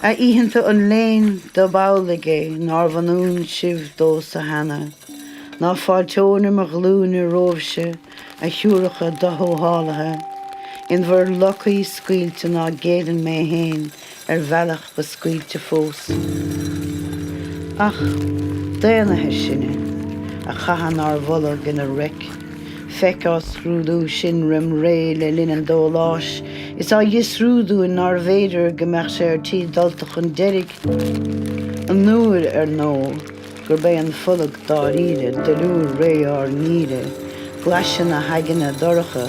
A oícheanta an léin, dob amhlaidh é nárbh ionúin sibh domhsa cheana, ná fáilteoinn ar mo ghlúine romhaibhse, a shiúracha doshólásaithe, in bhur locaí scaoilte ná géillfinn mé féin ar bhealach ba scaoilte fós. Ach daonnaithe sinne, a chaitheann ár bhfulag ina raic. Feic á scrúdú sinn roim ré le linn an dóláis. Is á fhiosrú dúinn nárbh fhéidir go mbeadh sé ar tí dulta chun deiridh, an uair, ar ndó, gurb é an fulag dáiríre, duilliúr ré ár ngeimhridh, glaise na haigne dorcha,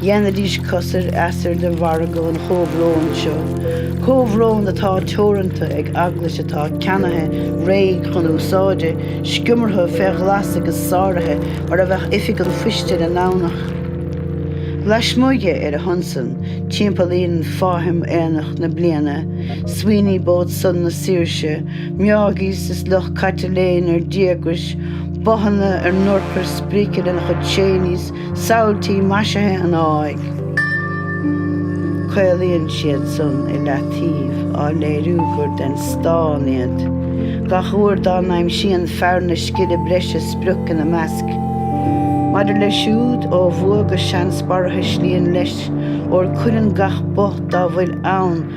Dhéanfaidís cosair easair de mhargadh an chomhbhróin seo, comhbhrón atá teoranta ag eaglais atá ceannaithe réidh chun úsáide, sciomartha fé ghlas agus sáraithe mar a bheadh oifig an phoist ar an nDomhnach. Laismuigh dhe, ar a shon san, timpeallaíonn fáithim aonach na bliana, swing boats na saoirse, Meáigís is lucht caite léim ar díograis, bothanna ár n-urchair sprice lena chuid chaenies, Samhailtí maisithe an áidh, caolaíonn siad san i leataobh, á léiriú gur den stán iad. Gach uair dá n-aimsíonn fear na scile breise sprioc ina measc. Maidir leis siúd, ó bhua go seans barrathuislíonn leis, óir cuireann gach both dá bhfuil ann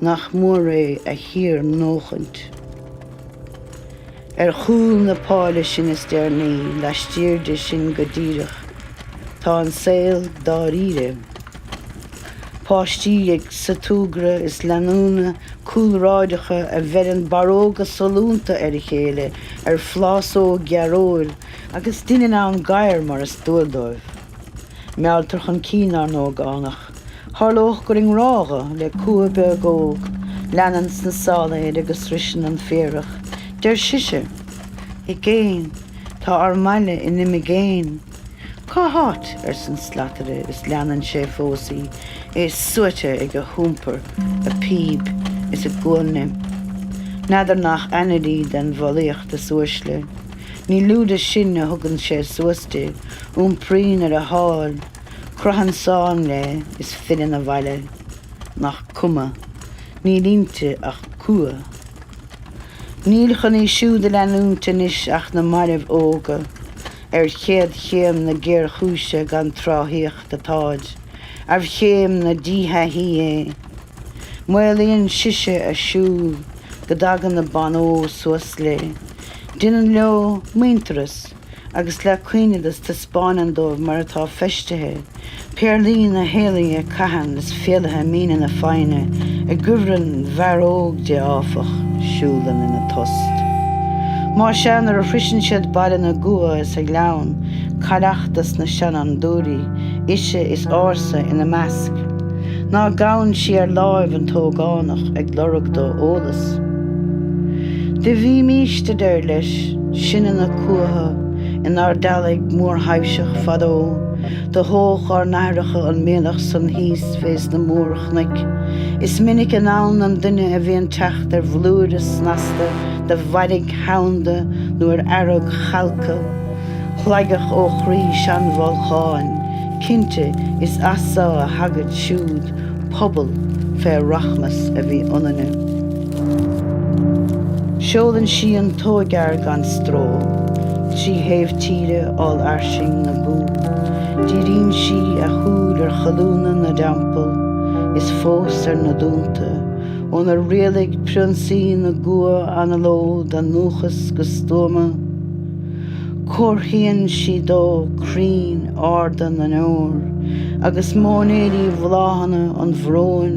nach mór é a shíornóchaint. Ar chúl na páile sin is deireanaí, laistiar de sin go díreach, tá an saol dáiríre. Páistí ag súgradh is leanúna cúlráideacha a bheireann barróga sollúnta ar a chéile ar phlásóg dhearóil agus deineann gadhair, mar is dual dóibh, mealltar chun cinn ár n-ógánach. Tharlódh gur i ngrádha le cumha beag óg leanann sna sála air agus sroiseann an féarach. Deir sise, I gcéin, tá ár mbaile in imigéin. Cá háit? arsan slataire is leanann sé fós í, é suaite ag a hiompar, a píb is a guailne. N'fheadar nach ainnir í den bhfolaíocht is uaisle. Ní lú de sin a thugann sé suas di, iompraíonn ar a sháil. Croitheann slán léi is filleann abhaile nach cuma, níl inti ach cumha. Níl chun í siúd a leanúint anois ach na mairbh óga ar chéad chéim na géarchúise gan tráthaíocht atáid ar chéim na díthaithí é. Maolaíonn sise a siúl go dtagann na ban óg suas léi. Deineann leo muintearas. agus le caoineadas taispeáineann dóibh mar atá feistithe, péarlaí na héalaithe caitheann is fiailithe míne na foighne i gcuibhreann fhear óg di áfach, siúlann ina tost. Más ea, nuair a shroiseann siad Baile na gCumha is a ngleann cailleach des na seanfhondúirí, ise is ársa ina measc, ná gabhann sí ar láimh an t-ógánach ag lorg dó eolas. Do bhímist, a deir leis. Sinne na cumhacha inár dteaghlach mórthaibhseach fadó, do thóch ár n-aithreacha an mianach san thíos fé sna mór-chnoic. Is minic i ndán don duine a bhíonn teacht ar bhlúire snasta de mhairg sheanda nó ar fhearg chalctha shlaigeach ó chroí seanbholcháin. Cinnte, is as so a thagaid siúd, pobal fé rachmas a bhí ionainne. Seolann sí an t-óigfhear gan stró trí thaobh tíre ollfhairsing na gcumha. Díríonn sí a shúil ar cholúnna na dteampall is fós ar na dúnta ónar rialaigh prionsaí na gcumha anallód a ndúchas go stuama. Comharthaíonn sí dó crainn arda na ndeor agus móinéirí bhláthanna an bhróin.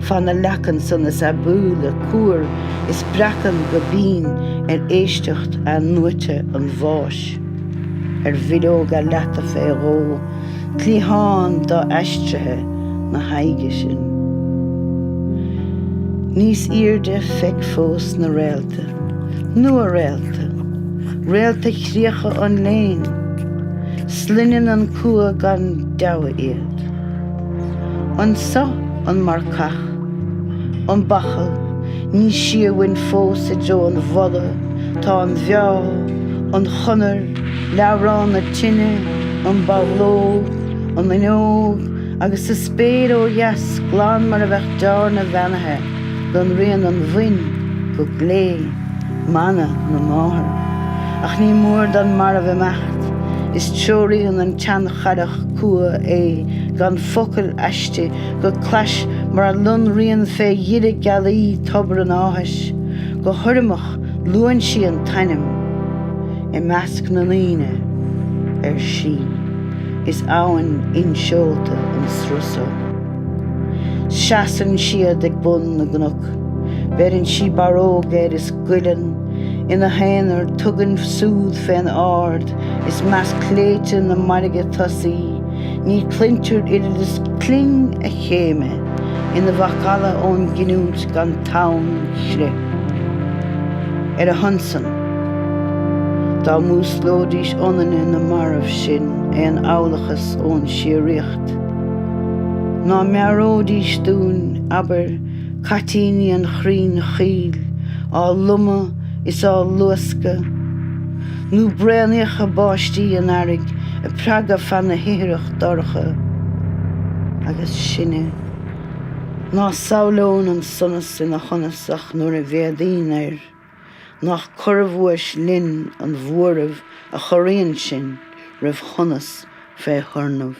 Fan na leacan san is aibiúla cuar is breacann go binn ar éisteacht athnuaite an bháis. Ar bhileog a leata fé dhó cliathán do-aistrithe na haghaidhe sin. Níos airde feic fós na réalta, nua-réalta, réalta chríocha an léin. Sloinneann an cumha gan deabhadh iad. Anso an marcach, an bachall, ní sia uainn fós i dtreo an mhola, tá an bheo, an chonair, leabhrán na tine, an bachlóg, an fhuinneog agus sa spéir ó dheas glan mar a bheadh dearna bheannaithe lonraíonn an mhuin go glé, mana na máthar. Ach ní mór don marbh imeacht, is treoraíonn an tseancharrach Cumha é gan focal aisti go clais mar a lonraíonn fé dheireadh gealaí tobar an áthais. Go hurramach luann sí an t-ainm. I measc na ndaoine, ar sí, is abhainn inseolta an sruth so. Seasann siad ag bun na gcnoc. Beireann sí barróg air is goileann. Ina haonar, tugann súd fén ard i measc sléibhte na mairge tosaí, ní chluintear oiread is cling a chéime ina mhacalla ón gcinniúint gan tonnchrith. Ar a shon san, dá músclóidís ionainne na mairbh sin aon amhlachas ón síoraíocht, ná meabhróidís dúinn, abair, caitíní an chrainn choill á lomadh is á luascadh, nó braonaíocha báistí an earraigh ag preabadh feadh na hithreach dorcha. Agus sinne ná samhlaíonn an sonas ina shonas ach nuair a mhéadaíonn air, nach corrabhuais linn an bhuaireamh a chorraíonn sinn roimh shonas fé thurnamh.